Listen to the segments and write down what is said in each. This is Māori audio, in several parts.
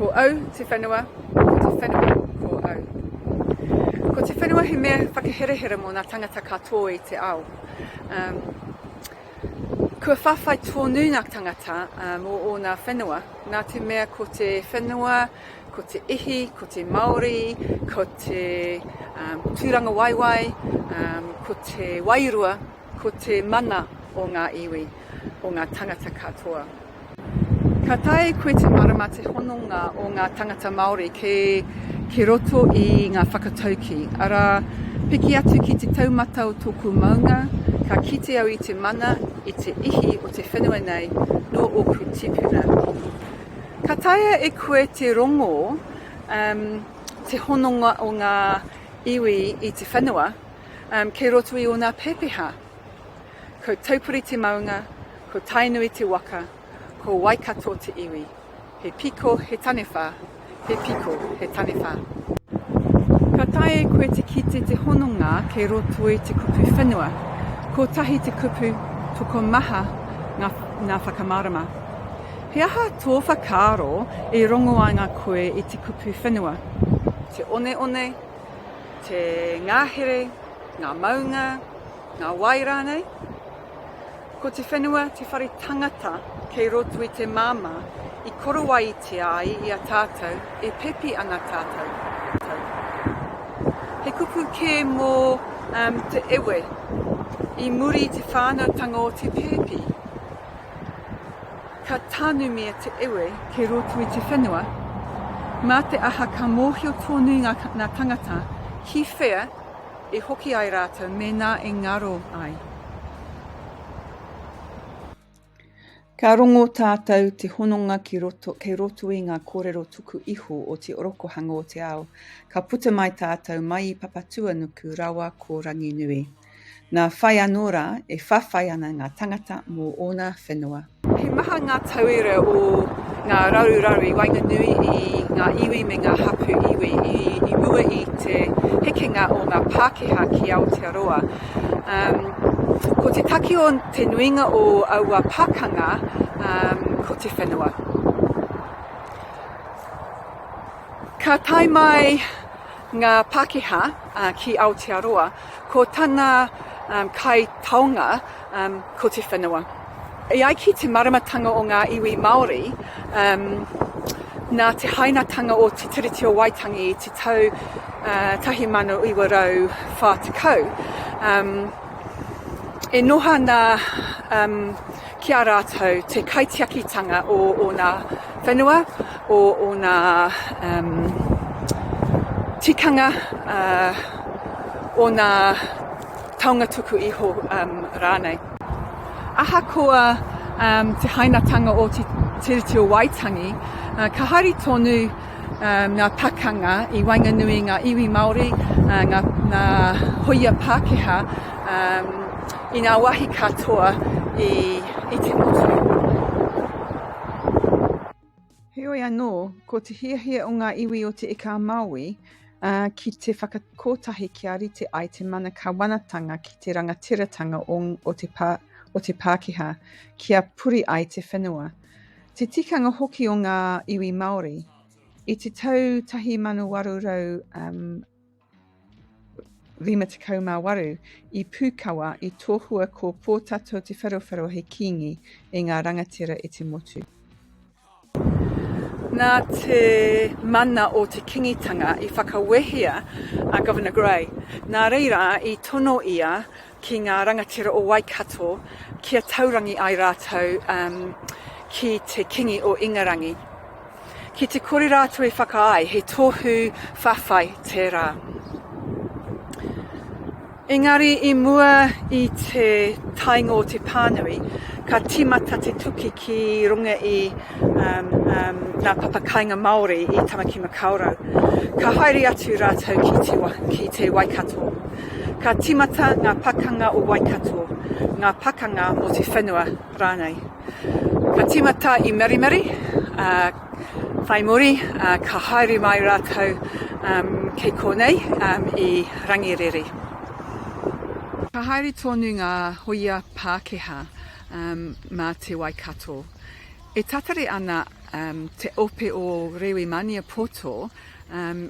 Ko au te whenua, ko te whenua ko au. Ko te whenua he mea whakaherehere mō nā tangata katoa i te ao. Um, kua whawhai tōnu nā tangata uh, mō ōna whenua, nā te mea ko te whenua, ko te ihi, ko te maori, ko te um, tūranga waiwai, um, ko te wairua, Ko te mana o ngā iwi, o ngā tangata katoa. Ka taea e koe te marama te hononga o ngā tangata Māori ke, ke roto i ngā whakatauki. Arā, piki atu ki te taumata o tōku maunga, ka kite au i te mana, i te ihi o te whenua nei, nō ōku tipuna. Ka taea e koe te rongo um, te hononga o ngā iwi i te whenua, um, kei roto i ōna pēpeha. Ko Taupuri te maunga, ko Tainui te waka, ko Waikato te iwi. He piko, he tanewha, he piko, he tanewha. Ka tae e koe te kite te hononga kei roto i te kupu whenua. Kotahi te kupu, tokomaha ngā, ngā whakamarama. He aha tō whakaaro i rongo ai ngā koe i te kupu whenua? Te one one, te ngahere, ngā maunga, ngā wai rānei. Ko te whenua te whare tangata kei roto i te māmā i korowaitia ai i a tātou e pepi ana tātou. He kupu kē mō um, te ewe i muri i te whānautanga o te pēpi. Ka tanumia te iwi ki roto i te whenua, mā te aha ka mōhio tōnui ngā ngā tangata ki whea i hoki ai rātou mēnā e ngaro ai. Ka rongo tātou te hononga ki roto, kei roto i ngā kōrero tuku iho o te orokohanga o te ao. Ka puta mai tātou mai i Papatūanuku rawa ko Ranginui. Nā whai anō rā e whawhai ana ngā tangata mō ōna whenua. He maha ngā tauira o ngā raruraru i waenganui i ngā iwi me ngā hapū iwi i, i mua i te hekenga o ngā Pākehā ki Aotearoa. Um, ko te taki o te nuinga o aua pakanga um, ko te whenua. Ka tae mai ngā Pākehā uh, ki Aotearoa, Ko tana um, kai taonga um, ko te whenua. I ai ki te maramatanga o ngā iwi Māori, um, nā te hainatanga o Te Tiriti o Waitangi i te tau uh, 1940, um, e noha na um, ki a rātou te kaitiakitanga o ōna whenua, o ōna um, tikanga, uh, ōna taonga tuku iho um, rānei. Ahakoa um, te hainatanga o te Tiriti o Waitangi, uh, ka hari tonu ngā pakanga i waenganui i ngā iwi Māori, ngā hōia Pākehā, i ngā wāhi katoa i te motu. Heoi anō, ko te hiahia o ngā iwi o Te Ika-a-Māui ki te whakakotahi kia rite ai te mana kawanatanga ki te rangatiratanga o te Pākehā, kia puri ai te whenua. Te tikanga hoki o ngā iwi Māori. I te tau 1858, i Pūkawa, i tohua ko Pōtatau Te Wherowhero hei kīngi e ngā rangatira i te motu. Nā te mana o te kingitanga i whakawehea a Governor Grey, nā reira i tono ia ki ngā rangatira o Waikato kia taurangi ai rātou ki te Kingi o Ingarangi. Ki te kore rātou e whakaae, he tohu whawhai tērā. Engari i mua i te tainga o te pānui, ka tīmata te tuki ki runga i um, um, ngā papakainga Māori i Tamaki Makaurau. Ka haere atu rātou ki te, ki te Waikato. Ka tīmata ngā pakanga o Waikato, ngā pakanga o te whenua rānei. Ka tīmata i Marimari, ā, whai muri, ā, ka haere mai rātou, um, kei konei, um, i Rangiriri. Ka haere tonu ngā hoia Pākehā, um, mā te Waikato. E tatari ana, um, te ope o Rewi Maniapoto,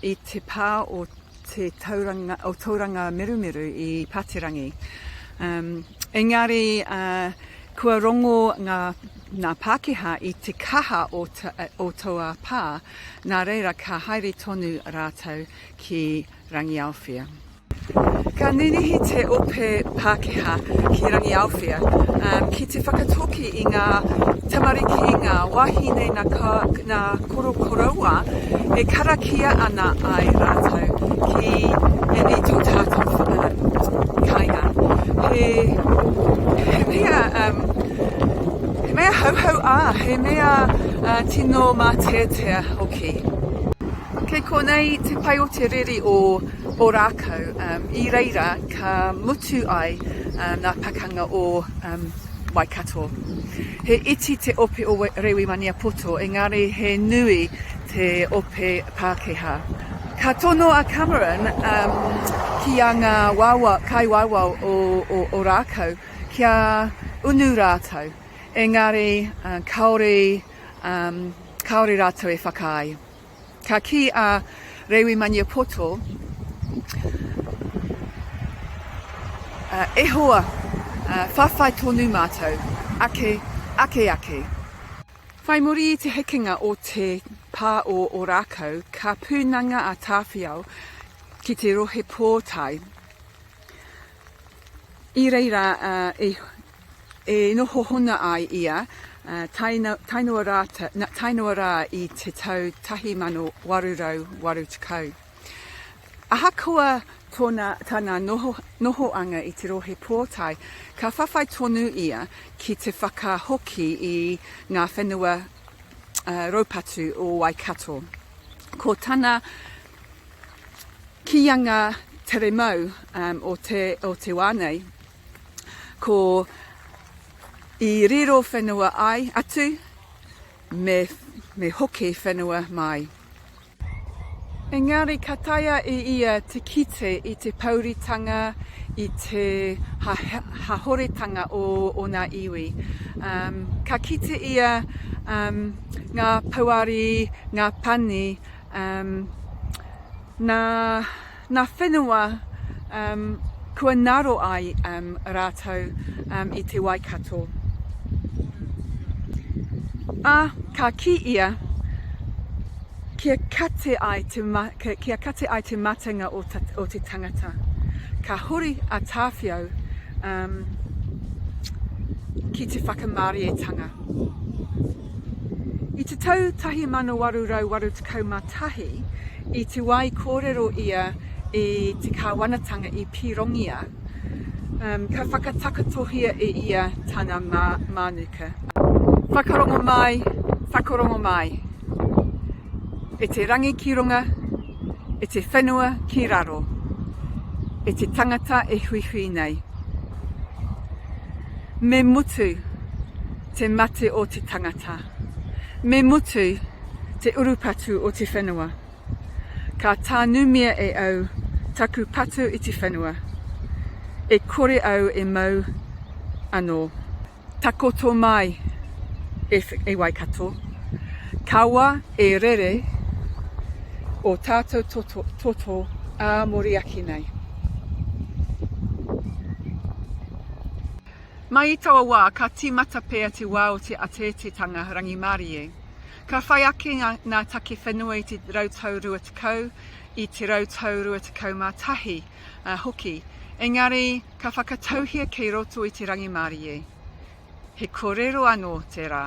i te pā o te tauranga, o tauranga merumeru i Pāterangi. Um, engari, uh, kua rongo ngā, ngā Pākehā i te kaha o, ta, o taua pā, nā reira ka haere tonu rātou ki Rangiaowhia. Ka ninihi te ope Pākehā ki Rangiaowhia ki te whakatoki i ngā tamariki, ngā wāhine nā korokoroua e karakia ana ai rātou ki ēnei tōtātō kainga. He mea hauhau ā, he mea tino māteatea hoki. Kei konei te pai o te riri o. Ōrākau, i reira ka mutu ai ngā pakanga o Waikato. He iti te ope o Rewi Maniapoto, engari he nui te ope Pākehā. Ka tono a Cameron ki a ngā kaiwawao o Ōrākau kia unu rātou, engari kāore rātou e whakaae. Ka kī a Rewi Maniapoto, E hoa, whawhai tonu mātou, ake, ake, ake. Whai muri i te hekenga o te pā o Ōrākau, ka pūnanga a Tāwhiao ki te rohe pōtae. I reira E noho hona ai ia, taenoa rā i te tau 1880. Ahakoa tana nohoanga i te Rohe Pōtae, ka whawhai tonu ia ki te whakahoki i ngā whenua raupatu o Waikato. Ko tana kīanga tere mau o te wā nei, ko i riro whenua ai atu me me hoki whenua mai. Engari ka taea e ia te kite i te pouritanga, i te hahoretanga o ona iwi. Ka kite ia nga pouari, nga pani, na. Nga whenua kua ngaro ai ratou i te Waikato. A ka ki ia, kia kate ai te matenga o te tangata. Ka huri a Tawhiao ki te whakamarietanga. I te tau 1881, I te wā i kōrero ia i te kāwanatanga i Pīrongia, ka whakatakotohia e ia tana mānuka. Whakarongo mai, whakarongo mai, e te rangi ki runga, e te whenua ki raro, e te tangata e huihui nei. Me mutu te mate o te tangata, me mutu te urupatu o te whenua. Ka tānumia e au taku patu i te whenua, e kore au e mau anō. Takoto mai, e, e Waikato, kawa e rere o tātou toto, toto ā Moriaki nei. Mai i taua wā, ka tīmata pea te wā o te ateateatanga rangimārie. Ka whai ake ngā, ngā take whenua i te rautau rua tekau, i te rautau rua tekau mā tahi uh, hoki. Engari, ka whakatauhia kei roto i te rangimārie. He kōrero anō tērā.